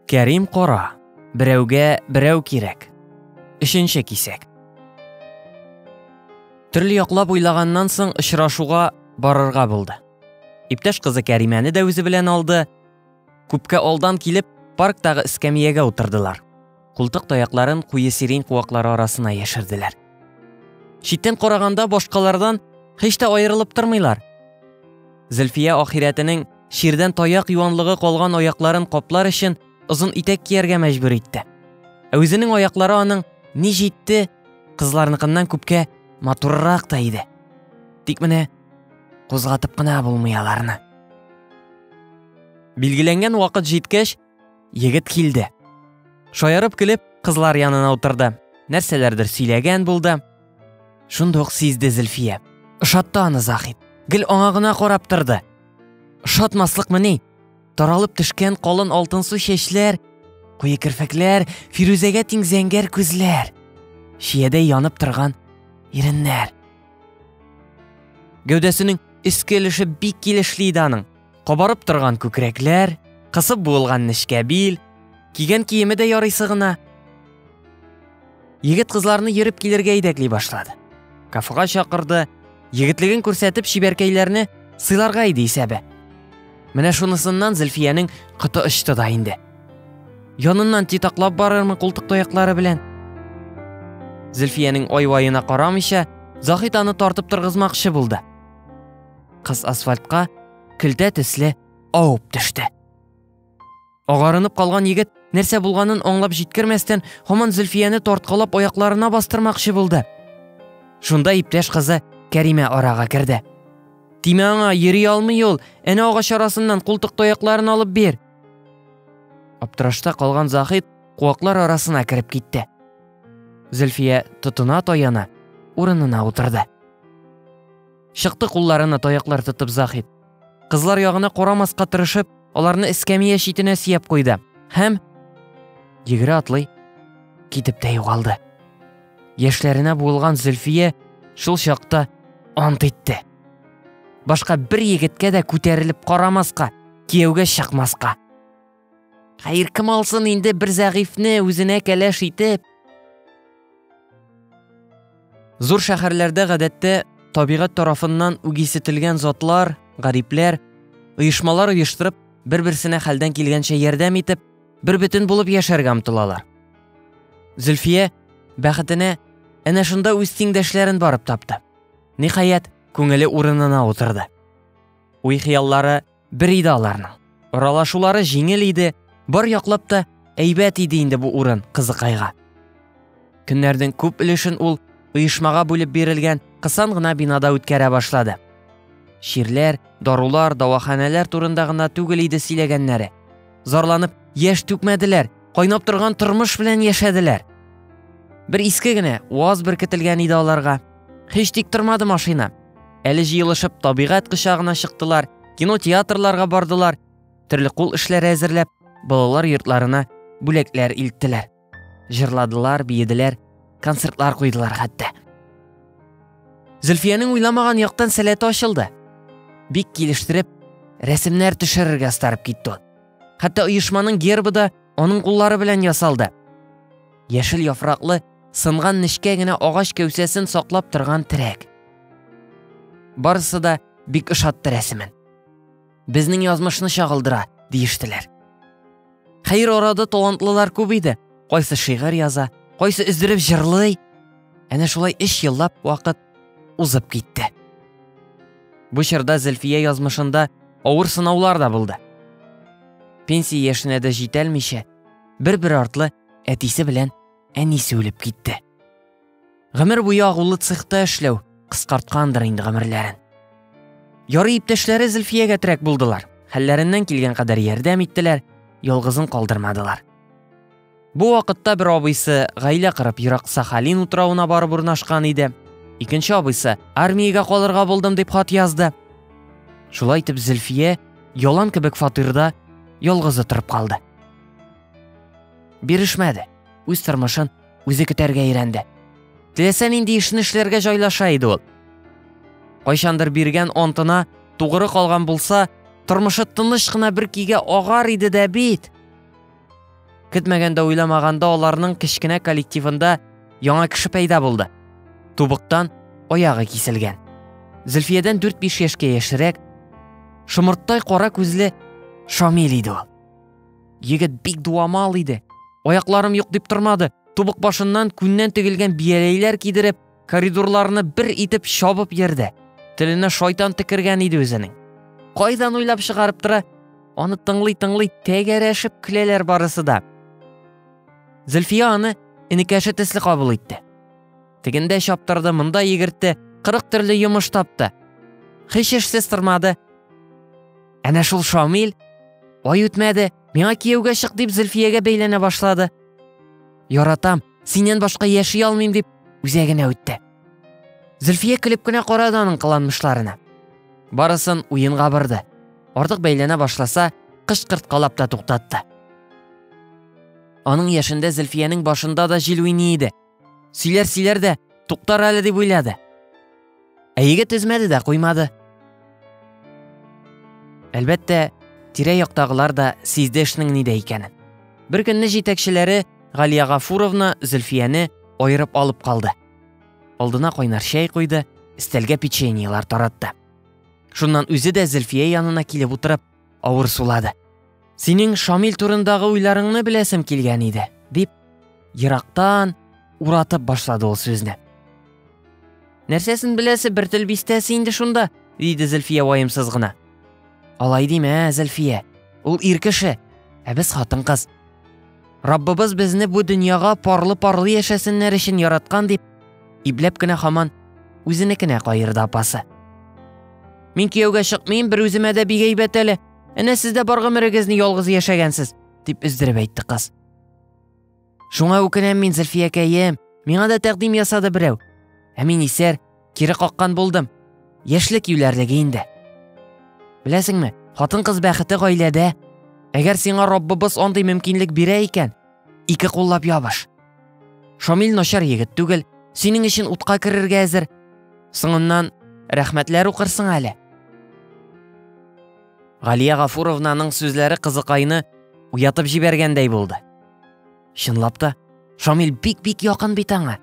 Кәрим кара, берәүгә берәү кирәк. Өченче кисәк. Төрле яклап уйлаганнан соң очрашуга барырга булды. Иптәш кызы Кәримәне дә үзе белән алды. Күпкә алдан килеп, парктагы эскәмиягә утырдылар. Култык таякларын куе сирень куаклары арасына яшерделәр. Читтән караганда башкалардан һич тә аерылып тормыйлар. Зөлфия ахирәтенең чирдән таяк юанлыгы калган аякларын каплар өчен озын итәк кияргә мәҗбүр итте. Ә үзенең аяклары аның ни җитте, кызларныкыннан күпкә матуррак та иде. Тик менә кузгатып кына булмый аларны. Билгеләнгән вакыт җиткәч, Егет килде. Шаярып көлеп, кызлар янына утырды. Нәрсәләрдер сөйләгән булды. Шунда ук сизде Зөлфия. Ошатты аны Захит. Гел аңа гына карап торды. Ошатмаслыкмы ни? Таралып төшкән калын алтынсу чәчләр, куе керфекләр, Фирүзәгә тиң зәңгәр күзләр, чиядәй янып торган иреннәр. Гәүдәсенең өске өлеше бик килешле иде аның. Кабарып торган күкрәкләр, кысып буылган нечкә бил, кигән киеме дә ярыйсы гына. Егет кызларны йөреп килергә идәкли башлады. Кафега чакырды, егетлеген күрсәтеп чибәркәйләрне сыйларга иде исәбе. Менә шунысыннан Зөлфиянең кыты очты да инде. Яныннан титаклап барырмы култык тояклары белән? Зөлфиянең ай-ваена карамыйча, Захит аны тартып торгызмакчы булды. Кыз асфальтка көлтә төсле авып төште. Агарынып калган егет нәрсә булганын аңлап җиткермәстән, һаман Зөлфияне тарткалап аякларына бастырмакчы булды. Шунда иптәш кызы Кәримә арага керде. Тимә аңа, йөри алмый ул, әнә агач арасыннан култык таякларын алып бир. Аптырашта калган Захид куаклар арасына кереп китте. Зөлфия тотына таяна, урынына утырды. Чыкты кулларына таяклар тотып Заһит. Кызлар ягына карамаска тырышып, аларны эскәмия читенә сөяп куйды һәм егере атлый китеп тә югалды. Яшьләренә буылган Зөлфия шул чакта ант итте. Башка бер егеткә дә күтәрелеп карамаска, кияүгә чыкмаска. Хәер, кем алсын инде бер зәгыйфьне үзенә кәләш итеп? Зур шәһәрләрдә гадәттә табигать тарафыннан үгисетелгән затлар, гарипләр, оешмалар оештырып, бер-берсенә хәлдән килгәнчә ярдәм итеп, бер бөтен булып яшәргә омтылалар. Зөлфия бәхетенә әнә шунда үз тиңдәшләрен барып тапты. Ниһаять, күңеле урынына утырды. Уй-хыяллары бер иде аларның. Аралашулары җиңел иде, бар яклап та әйбәт иде инде бу урын кызыкайга. Көннәрнең күп өлешен ул оешмага бүлеп бирелгән кысан гына бинада үткәрә башлады. Чирләр, дарулар, дәваханәләр турында гына түгел иде сөйләгәннәре. Зарланып яшь түкмәделәр, кайнап торган тормыш белән яшәделәр. Бер иске генә ваз беркетелгән иде аларга. Һич тик тормады машина. Әле җыелышып, табигать кочагына чыктылар, кинотеатрларга бардылар, төрле кул эшләре әзерләп, балалар йортларына бүләкләр илттеләр. Җырладылар, биеделәр, концертлар куйдылар хәтта. Зөлфиянең уйламаган яктан сәләте ачылды. Бик килештереп, рәсемнәр төшерергә старып китте. Хәтта оешманың гербы да аның куллары белән ясалды. Яшел яфраклы, сынган нечкә генә агач кәүсәсен саклап торган терәк. Барысы да бик ошатты рәсемен. Безнең язмышны чагылдыра, диештеләр. Хәер арада талантлылар күп иде. Кайсы шигырь яза, кайсы өздереп җырлый. Әнә шулай эш еллап вакыт узып китте. Бу чорда Зөлфия язмышында авыр сынаулар да булды. Пенсия яшенә дә җитәлмичә, бер-бер артлы әтисе белән әнисе үлеп китте. Гомер буе агулы цехта эшләү кыскарткандыр инде гомерләрен. Ярый иптәшләре Зөлфиягә терәк булдылар. Хәлләреннән килгән кадәр ярдәм иттеләр, ялгызын калдырмадылар. Бу вакытта бер абыйсы гаилә кырып ерак Сахалин утравына барып урнашкан иде. Икенче абыйсы армиягә калырга булдым дип хат язды. Шулай итеп Зөлфия ялан кебек фатирда ялгызы торып калды. Бирешмәде. Үз тормышын үзе көтәргә өйрәнде. Теләсә нинди эшне эшләргә җайлаша иде ул. Кайчандыр биргән антына тугры калган булса, тормышы тыныч кына бер кигә агар иде дә бит. Көтмәгәндә уйламаганда аларның кечкенә коллективында яңа кеше пәйда булды. Тубыктан аягы киселгән. Зөлфиядән 4-5 яшькә яшерәк, шомырттай кара күзле Шамил иде ул. Егет бик дуамал иде. Аякларым юк дип тормады. Тубык башыннан күннән тегелгән бияләйләр кидереп, коридорларны бер итеп чабып йөрде. Теленә шайтан текергән иде үзенең. Кайдан уйлап чыгарып тора? Аны тыңлый-тыңлый тәгәрәшеп көләләр барысы да. Зөлфия аны энекәше төсле кабул итте. Тегендә чаптырды, монда егертте, кырык төрле йомыш тапты. Хич эшсез тормады. Әнә шул Шамил, ай үтмәде, миңа кияүгә чык дип Зөлфиягә бәйләнә башлады. Яратам, синнән башка яши алмыйм дип үзәгенә үтте. Зөлфия көлеп кенә карады аның кыланмышларына. Барысын уенга барды. Артык бәйләнә башласа, кышкырткалап та туктатты. Аның яшендә Зөлфиянең башында да җил уйный иде. Сөйләр сөйләр дә, туктар әле дип уйлады. Ә егет өзмәде дә куймады. Әлбәттә, тирә яктагылар да сизде эшнең нидә икәнен. Бер көнне җитәкчеләре Галия Гафуровна Зөлфияне айырып алып калды. Алдына кайнар чәй куйды, стәлгә печеньелар таратты. Шуннан үзе дә Зөлфия янына килеп утырып, Авыр сулады. Синең Шамил турындагы уйларыңны беләсем килгән иде, дип, ерактан уратып башлады ул сүзне. Нәрсәсен беләсе бер тел бистәсе инде шунда, диде Зөлфия ваемсыз гына. Алай димә, Зөлфия. Ул ир кеше, ә без хатын-кыз. Раббыбыз безне бу дөньяга парлы-парлы яшәсеннәр өчен яраткан дип, ипләп кенә хаман үзенекенә каерды апасы. Мин кияүгә чыкмыйм, бер үземә дә бик әйбәт әле. Әнә сез дә бар гомерегезне ялгыз яшәгәнсез, дип өздереп әйтте кыз. Шуңа үкенәм мин, Зөлфиякәем. Миңа да тәкъдим ясады берәү. Ә мин исәр, Кире каккан булдым. Яшьлек юләрлеге инде. Беләсеңме, хатын-кыз бәхете гаиләдә. Әгәр сиңа Раббыбыз андый мөмкинлек бирә икән, ике куллап ябыш. Шамил начар егет түгел, синең өчен утка керергә әзер. Соңыннан рәхмәтләр укырсың әле. Галия Гафуровнаның сүзләре кызыкайны уятып җибәргәндәй булды. Чынлап та, Шамил бик-бик якын бит аңа.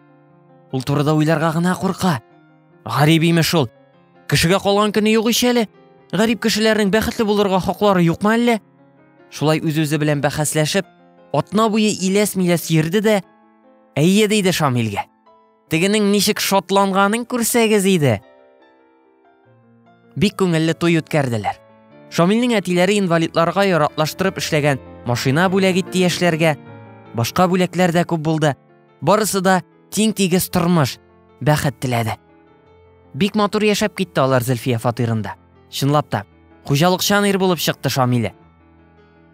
Ул турыда уйларга гына курка. Гарип имеш ул. Кешегә калган көне юк ич әле. Гарип кешеләрнең бәхетле булырга хаклары юкмы әллә? Шулай үз-үзе белән бәхәсләшеп, атна буе иләс-миләс йөрде дә, әйе диде Шамилгә. Тегенең ничек шатланганын күрсәгез иде. Бик күңелле туй үткәрделәр. Шамилнең әтиләре инвалидларга яратлаштырып эшләгән машина бүләк итте яшьләргә. Башка бүләкләр дә күп булды. Барысы да тиң-тигез тормыш, бәхет теләде. Бик матур яшәп китте алар Зөлфия фатирында. Чынлап та, хуҗалыкчан ир булып чыкты Шамиле.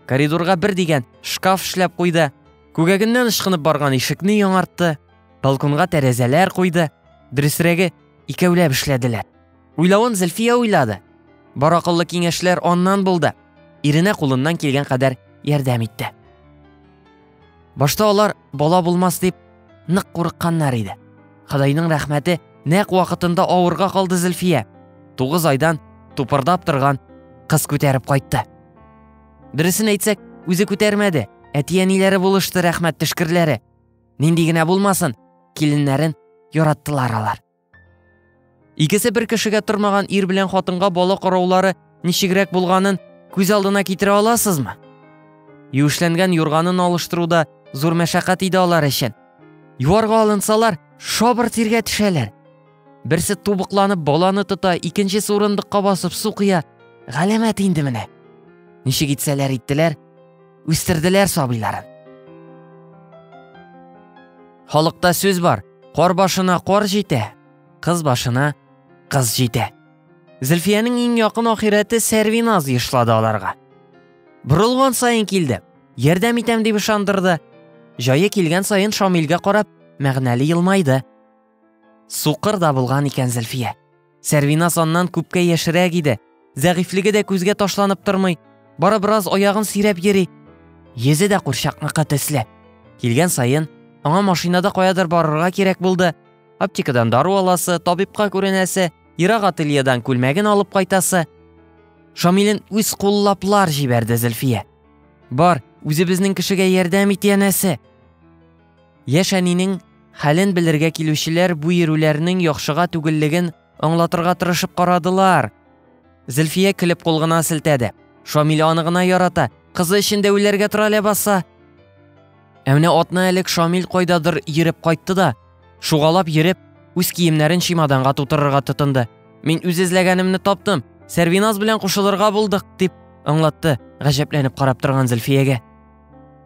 Коридорга бер дигән шкаф эшләп куйды, күгәгеннән ышкынып барган ишекне яңартты, Балконга тәрәзәләр куйды, дөресрәге, икәүләп эшләделәр. Уйлавын Зөлфия уйлады. Бар акыллы киңәшләр аннан булды. Иренә кулыннан килгән кадәр ярдәм итте. Башта алар бала булмас дип нык курыкканнар иде. Хадайның рәхмәте нәк вакытында авырга калды Зөлфия. Тугыз айдан тупырдап торган кыз күтәреп кайтты. Дөресен әйтсәк, үзе күтәрмәде, әти-әниләре булышты рәхмәт төшкерләре. Нинди генә булмасын, киленнәрен яраттылар алар. Икесе бер кешегә тормаган ир белән хатынга бала караулары ничегрәк булганын күз алдына китерә аласызмы? Юешләнгән юрганын алыштыруда зур мәшәкать иде алар өчен. Юарга алынсалар, шабыр тиргә төшәләр. Берсе тубыкланып баланы тота, икенчесе урындыкка басып су кыя. Галәмәт инде менә. Ничек итсәләр иттеләр, үстерделәр сабыйларын. Халыкта сүз бар, кар башына кар җитә, кыз башына кыз җитә. Зөлфиянең иң якын ахирәте Сәрвиназ ешлады аларга. Борылган саен килде, ярдәм итәм дип ышандырды. Җае килгән саен Шамилгә карап, мәгънәле елмайды. Сукыр да булган икән Зөлфия. Сәрвинас аннан күпкә яшерәк иде. Зәгыйфьлеге дә күзгә ташланып тормый. Бары бераз аягын сөйрәп йөри. Йөзе дә курчакныкы төсле. Килгән саен аңа машинада каядыр барырга кирәк булды. Аптекадан дару аласы, табибка күренәсе, ерак ательедан күлмәген алып кайтасы. Шамилен үз куллаплар җибәрде Зөлфия. Бар, үзебезнең кешегә ярдәм ит, янәсе. Яшь әнинең хәлен белергә килүчеләр бу йөрүләрнең яхшыга түгеллеген аңлатырга тырышып карадылар. Зөлфия көлеп кул гына селтәде. Шамил аны гына ярата, кызы өчен дә үләргә тора ләбаса. Ә менә атна элек Шамил кайдадыр йөреп кайтты да, шугалап йөреп, үз киемнәрен чемоданга тутырырга тотынды. Мин үз эзләгәнемне таптым, Сәрвиназ белән кушылырга булдык, дип аңлатты, гаҗәпләнеп карап торган Зөлфиягә.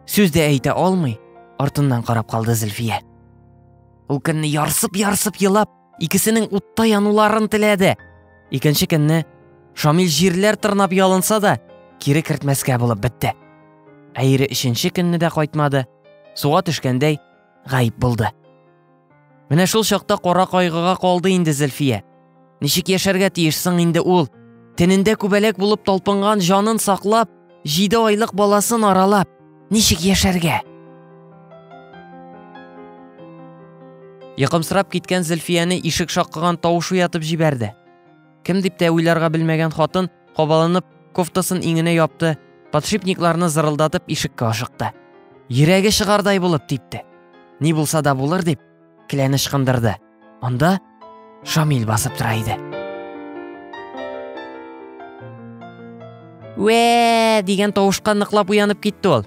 Сүз дә әйтә алмый, артыннан карап калды Зөлфия. Ул көнне ярсып-ярсып елап, икесенең утта януларын теләде. Икенче көнне Шамил җирләр тырнап ялынса да, кире кертмәскә булып бетте. Әйре өченче көнне дә кайтмады, суга төшкәндәй гаип булды. Менә шул чакта кара кайгыга калды инде Зөлфия. Ничек яшәргә тиеш соң инде ул? Тенендә күбәләк булып талпынган җанын саклап, җиде айлык баласын аралап, ничек яшәргә? Йокымсырап киткән Зөлфияне ишек шакыган тавыш уятып җибәрде. Кем дип тә уйларга белмәгән хатын, кабаланып, кофтасын иңенә япты, подшипникларны зырылдатып ишеккә ашыкты. Йөрәге чыгардай булып типте. Ни булса да булыр дип, келәне ышкындырды. Анда Шамил басып тора иде. Вә! дигән тавышка ныклап уянып китте ул.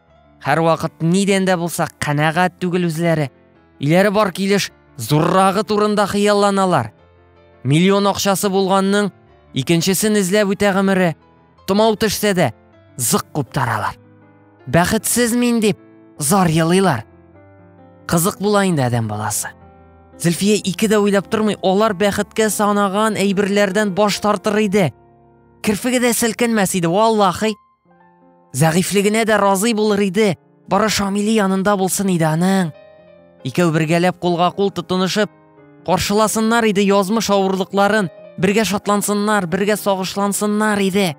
Һәрвакыт нидән дә булса канәгать түгел үзләре. Иләре бар килеш зуррагы турында хыялланалар. Миллион акчасы булганның икенчесен эзләп үтә гомере. Томау төшсә дә, зык куп таралар. Бәхетсез мин дип зар елыйлар. Кызык була инде адәм баласы. Зөлфия ике дә уйлап тормый, алар бәхеткә санаган әйберләрдән баш тартыр иде. Керфеге дә селкенмәс иде, валлахи. Зәгыйфлегенә дә разый булыр иде, бары Шамили янында булсын иде аның. Икәү бергәләп кулга кул тотынышып, каршыласыннар иде язмыш авырлыкларын, бергә шатлансыннар, бергә сагышлансыннар иде.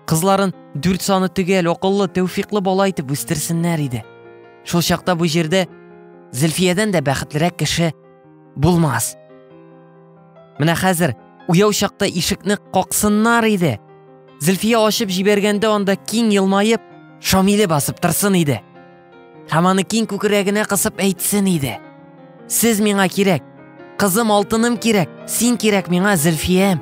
Кызларын дүрт саны төгәл, акыллы, тәүфиклы бала итеп үстерсеннәр иде. Шул чакта бу җирдә Зөлфиядән дә бәхетлерәк кеше булмас. Менә хәзер уяу чакта ишекне каксыннар иде. Зөлфия ачып җибәргәндә анда киң елмаеп, Шамиле басып торсын иде. Һәм аны киң күкрәгенә кысып әйтсен иде. Сез миңа кирәк. Кызым алтыным кирәк. Син кирәк миңа, Зөлфиям.